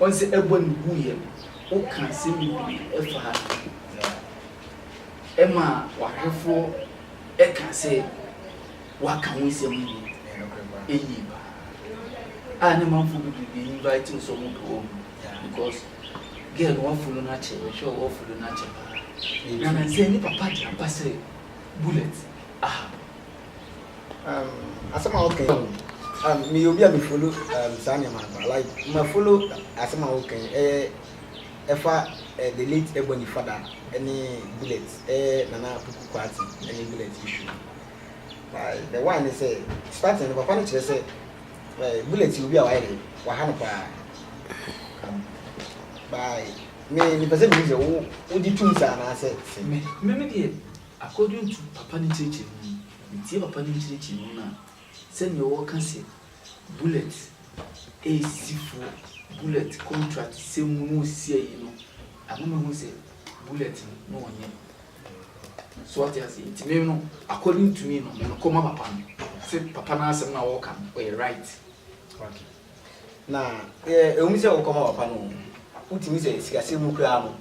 Ɔdze bɔ no guiɛ no, woka asɛm bebree fa ho a, ɛma w'ahwɛfoɔ ka sɛ woaka wo nsɛm no mu yie pa ara a na amanfoɔ bebree bɛ invite wo sɛ wɔbɛwɔ wo mu because girl no woafolo no akyɛ, mehwɛ wo woafolo no akyɛ pa ara. Na nansɛ ne papa de aba sɛ Bullet aha. Um, asɛm a woka yi, um, meyɛ obi a me follow um, saa nneɛma no paa. Like, ma follow asɛm a woka yi, ɛyɛ ɛfa eh, the late Ebony Fada ne Bullet, ɛyɛ eh, Nana Puku Kwati ne Bullet issue. Like, the one ne sɛ, starting no papa no kyerɛ sɛ, eh, Bullet yɛ obi a wayɛ dɛ, waha no paa. Um, by, me, mepɛ sɛ mehu sɛ wo, wogye tom saa anaasɛ sɛ. Me, me, me deɛ. Akɔdwen to papa no nkyerɛkyerɛ mu no, metie papa no nkyerɛkyerɛ mu no a, sɛdeɛ ɔɔka sɛ bullet ɛɛsisi fuo, bullet contract sɛm mu na ɔɔsisi ayi no, ɛma mehu sɛ bullet no na ɔnyɛ. So wate aseɛ? Nti me no according to me no, me no kɔma papa no, sɛ papa no asɛm no a ɔɔka no ɔyɛ right. Na ɛ ɛwom sɛ wokɔma papa no oo, wotumi sɛ sikasɛm mu koraa no,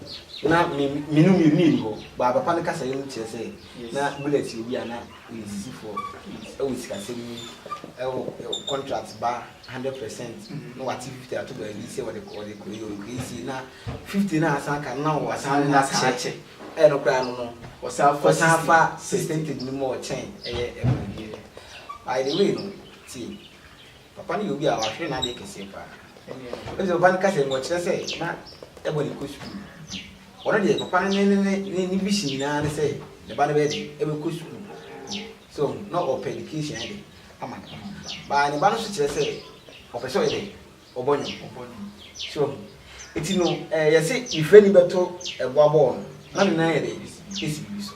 na me me no mmienu yɛni hɔ, baa papa no kasaeɛ no kyerɛ sɛ na Bullet yɛ obi a na ɔyɛ sisifoɔ wɔ sikasɛm mu, wɔ wɔ contract ba hundred percent na wate fifty ato baabi sɛ ɔde ɔde kɔ yi ɔde kɔ yi sei, na fifty no a asan aka no na ɔsan na asan akyɛ, ɛyɛ no koraa no no ɔsan fa ɔsan fa percentage no mu a ɔkyɛn ɛyɛ ɛma no deɛ. By the way no, tie. Papa no yɛ obi a ɔahwere n'ade kɛseɛ paa. Ebisɛ papa no ka sɛ nka ɔkyerɛ sɛ na ɛbɔ ne kɔ sukuu. Ɔno deɛ papa no ne ne ne ne ne vision nyinaa ne sɛ ne ba no bɛyɛ dɛn? Ɛbɛkɔ sukuu. So ɔho? Na ɔpɛ education yɛ dɛn? Ama no. Baa ne ba no nso kyerɛ sɛ ɔpɛ sɛ ɔyɛ dɛn? Ɔbɔ nnwom. Ɔbɔ nnwom. So ɔho? Eti no, ɛɛ yɛse nehwɛni bɛto ɛboa bɔɔl no, na ne nan yɛ dɛn? Esi biribi so.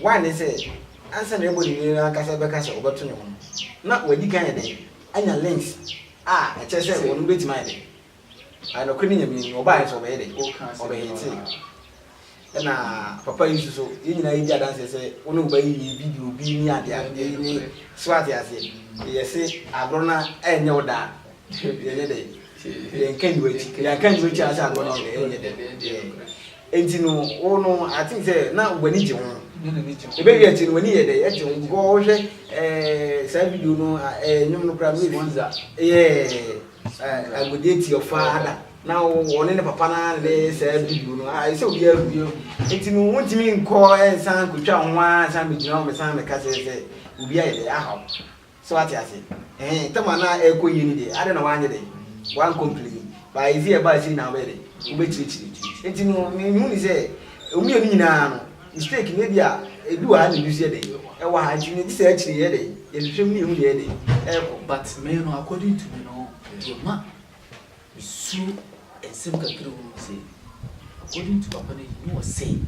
Why ne sɛ, ansa na ɛrebɔ ne din no ankasa rebɛka sɛ ɔbɛto ne ho no, na wadi kan ayɛ dɛn? Anya links a ɛkyerɛ sɛ ɔno bɛtumi ayɛ dɛn? Ayɛ nokorɛ ne Nyame anim. Ɔbaeɛ nso ɔbɛyɛ dɛn? Ɔbɛhitee. Ɛna papa yi nso so, yɛn nyinaa yɛdi adanseɛ sɛ wo ne wo ba yi yɛ bi de obi ne adeadeɛ ne, so ate aseɛ? Yɛse agorɔ no ɛnyɛ wo da a, yɛnyɛ dɛn? Yɛnka nni w'akyi. Yɛanka anni w'akyi a, sɛ agorɔ no ɛnyɛ wo dɛ, ɛnyɛ dɛn? Enti no, wo no, I think sɛ na w'ani gye ho. Ebe wie akyi no, w'ani yɛ dɛ, ɛgye ho, because wohwɛ eh, saa video no, eh, nnwom no koraa, maybe, yeah, agodie ti ɔfa ada, na ɔne ne papa no ara ne saa video no, ah, ɛsɛ obiara hu. Enti no, wontumi nkɔ ɛnsan kotwa ho ara san bɛgyina hɔ bɛsan bɛka sɛ sɛ obi ayɛ dɛ, ahaw. So wate ase? Ɛhɛn, tam a na ɛrekɔ yie no deɛ, adɛn na woanyɛ dɛn? Woankompleni. But adze a ɛbaa akyiri no na wobɛyɛ dɛn? Wobɛkyirikyiri. Enti no, mehu no sɛ, mmienu nyinaa no, mistake no, ebia ɛdu wɔ ha na ɛbi nso yɛ dɛn? Ɛwɔ ha. Enti no, gye sɛ akyiri no yɛyɛ dɛn? Yɛhwehwɛ mu na yɛhu deɛ ɛyɛ dɛn? Ɛrekɔ. But me no, according to me no, deɛ ma. Mesuo nsɛm kakra a ɛwɔ mu sɛ, According to papa no nyi ɔsɛe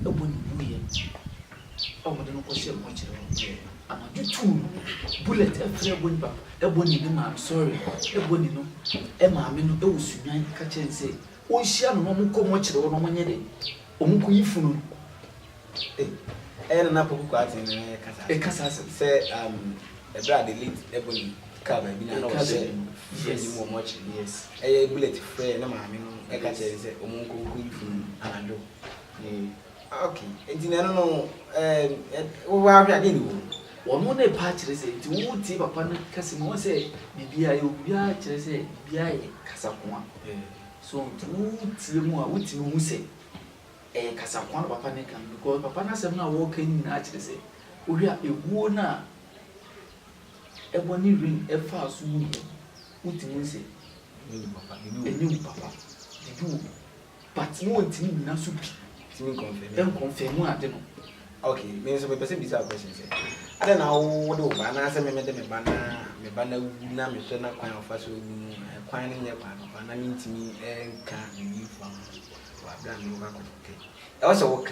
ɛbɔ ne wuiɛ a wɔde no kɔhyɛɛ mo kyerɛ no deɛ ama to tuu no bullet ɛfrɛ ɛbɔ ne papa ɛbɔ ne ne maame sorry ɛbɔ ne no ɛmaame no ɛwɔ sunwan ɛka kyerɛ no sɛ wɔnhyia no na wɔnkɔ mu nkyere wo na wɔnyɛ dɛn? Wɔnkɔyi funu no. Ei, ɛyɛ na na Apoku Kwarteng na ɛka saa asɛm. Ɛka saa asɛm. Sɛ um, ɛberɛ a the late Ebony kaa baabi na na ɔhyɛ funu no mu wɔn akyere no, yes. ɛyɛ Bullet frɛɛ ne maame no ka kyerɛɛ no sɛ wɔnkɔ nkɔyi funu no anadwo. Ee. Ok, nti na ɛno no ɛɛm wo ara hwɛ a deɛ na ɛwɔ mu? Ɔno na ɛpa kyerɛ sɛ, nti wo tie papa no kasa mu a, wohu sɛ biribiara yɛ obiara kyerɛ sɛ biribiara yɛ kasakoa. So nti wo tie mu a, wotumi hu sɛ ɛyɛ kasakoa na papa no reka no because papa no asɛm no a ɔreka no nyinaa kyerɛ sɛ, wohwɛ a ɛguo no a ɛbɔ ne ring faa so no mu no, wotumi hu sɛ ɛnyɛ wu papa, biribi wɔ mu. but na ɔntumi nnyina so bi nkɔnfɛmu ade no. Ok, me nso mepɛ sɛ mbisa wo question sɛ, adɛn na wode wo ba anaasɛ me mede me ba na me ba no awu na mehwɛ no kwan a ɔfa so awu no, kwan no nyɛ kwan papa na mentumi nka biribi mfa ho wɔ aberɛ a merekɔ akɔtwetwe? Ɛwɔ sɛ woka.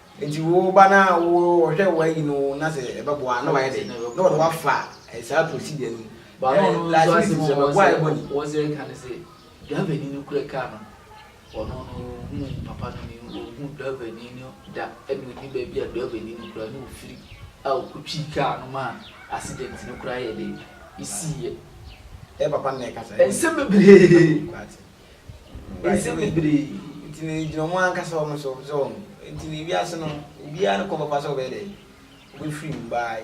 Nti wo ba no a wɔhwɛ wɔayi no na sɛ ɛbɛboa a na wayɛ dɛn? Na wɔde wo afa saa procedure no mu. But ɔno no nso asɛm a ɔwɔ sɛ ɔwɔ sɛ ɛka no sɛ driver ni no kura car no ɔno no ɔhuu papa no ni ɔhuu driver ni no da ɛna ɔni baabi a driver ni no kura na ɔfiri a ɔkɔtwii car no ma accident no kora yɛ dɛn ɛsiiɛ. Ɛyɛ papa no na ɛkasa. Nsɛm bebree. Nsɛm bebree nti no egyina wɔn ankasa wɔn so, so wɔn nti no ewiase no obiara ne kɔn papa sɛ ɔbɛyɛ dɛ ɔbɛ free mu by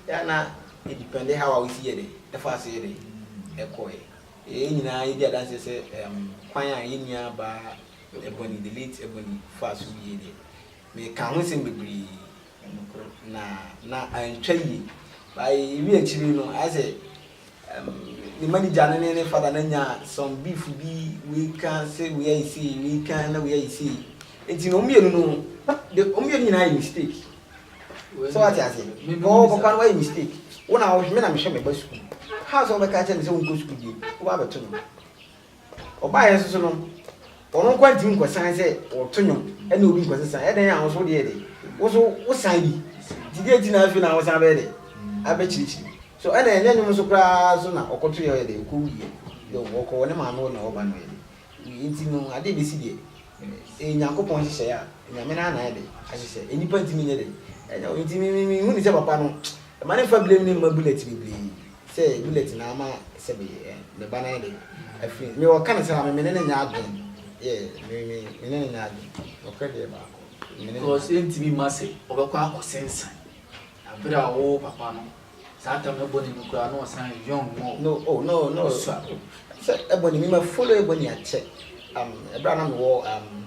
yɛ a na yɛ depend how a wosi yɛ dɛ ɛfa so yɛ dɛ ɛkɔ yɛ yɛ nyinaa yɛ di adanseɛ sɛ ɛɛm kwan a yɛ nua baa Ebony the late Ebony fa so wie deɛ me ka ho nsɛm bebree na na antwa yie by ewie akyire no ayɛ sɛ. ne manager no ne ne father no anya some beef bi, wei ka se wei ayɛ sei, wei ka na wei ayɛ sei, nti no wɔn mmienu no, de wɔn mmienu nyinaa ayɛ mistake, sɛ wate aseɛ, ɔɔ papa no wayɛ mistake, wo na wohwɛ me na mehwɛ me ba sukuu, how sɛ wobɛka kyerɛ no sɛ ɔnkɔ sukuu bio, wobaa bɛto no. Ɔbaeɛ nso so no, ɔno nkoa ntumi nkɔsan sɛ ɔto nnwom ne obi nkɔsesa. Ɛdɛn a wo nso wodeɛ de, wo nso wosan bi. Nti deɛ nti na afei na wosan bɛyɛ dɛ abɛkyirikyiri. So ɛna ɛnyɛ nnwom nso koraa so na ɔkɔtoeɛ ɔyɛ dɛ ɔkɔwuiɛ. Deɛ ɔkɔ wɔ ne maame hɔ na ɔba no ɔyɛ dɛ. Nti no adeɛ ɛbɛsi deɛ, ɛyɛ Nyankopɔn nhyehyɛeɛ a, Nyame no ara na ayɛ dɛ ahyehyɛ. Nnipa ntumi nyɛ dɛ. Ɛnyɛ wo. Nti me me menhunu sɛ papa no Mma ne nfa blame ne mma bullet bebree sɛ bullet na ama sɛ me me ba nan de afiri me wɔ ka ne saa me me ne no nyɛ adwen yeah me me me ne no nyɛ adwen nɔkorɛ deɛ baako me ne no nyɛ adwen. Because yɛntumi mma sɛ ɔbɛkɔ akɔ sensan na berɛ a ɔwoo papa no saa tam no Ebony no koraa na ɔsan yɛ young more No oh no no ɔsua. sɛ Ebony me ma follow Ebony akyɛ um ɛberɛ a na me wɔ um.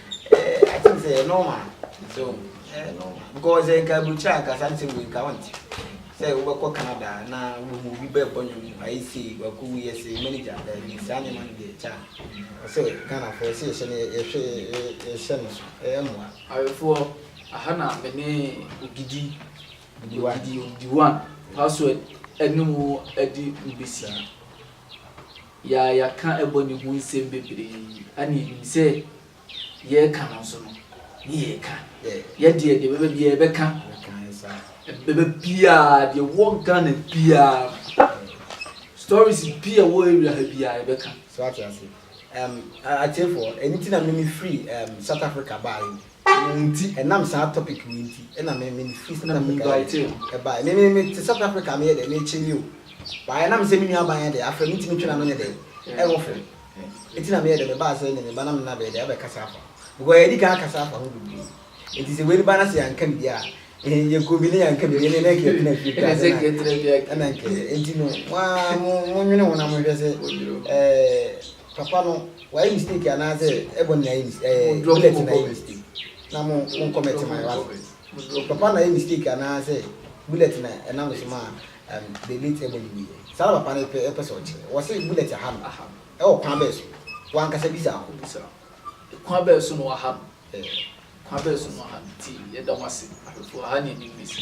Eh, I think sɛ ɛyɛ normal. So, ɛyɛ normal. Because sɛ nka aburukyerɛ anka saa nsɛm wei nka wonte. Sɛ wobɛkɔ Canada na wohu obi bɛɛbɔ nnwom ayɛ sei, wakɔ wi yɛ sei, manager daabi, saa nneɛma no deɛ kya. Ɔsɛ Ghanafoɔ sɛ yɛhyɛ no yɛhwɛ yɛhyɛ no so, ɛyɛ mmoa. Awefoɔ, aha na me ne Ogidi, Ogidi, Ogidi one, password ɛne mo adi mbesi. Yɛ a yɛaka bɔ no ho nsɛm bebree yi, ɛnna yenim sɛ yɛreka no nso no, ne yɛreka. Yɛ deɛ, deɛ ɛbɛba biara yɛbɛka. Ɛbɛba biara, deɛ ɛwɔ Ghana biara no, stories bi a ɛwɔ area ha biara yɛbɛka. So ate ase? Um, atiefoɔ, ɛno nti na meme firi um, South Africa baeɛ. Wɔn nti, ɛnam saa topic wei nti na me me firi South Africa yɛ baeɛ. Me me me te South Africa a me yɛ dɛn me kye ni o. But ɛnam sɛ me nua baa yɛ dɛn afrɛ me nti me twe n'ano nyɛ dɛn ɛho fɛ. Nti na me yɛ dɛn me baa sɛ ɛne me ba na me na bɛyɛ dɛn abɛkasa afa ho. Because yɛadi kan akasa afa ho bebree. Nti sɛ wei ne ba na sɛ yɛanka biribiara a Yɛkɔ bi ne yɛanka biribi ne na nka yɛtena fie kra sɛ na na nka yɛ nti no waa monwene ho na monhwɛ sɛ papa no wayɛ mistake anaasɛ ɛbɔ ne ayɛ mistake bullet na ayɛ mistake na mo monkɔ mɛte ma yɛwa papa na ayɛ mistake anaasɛ bullet na ɛnam so ma the late ɛbɔ ne wuyɛ saa na papa no ɛpɛ ɛpɛ sɛ ɔkyerɛ wɔ sɛ bullet aha no ɛwɔ kwan bɛɛ so wankasa bisa ho kwan bɛɛ so na waha no Eh, kwan bɛn so no aha no nti yɛda mo ase, ahwɛfoɔ aha ne anim ne sɛ.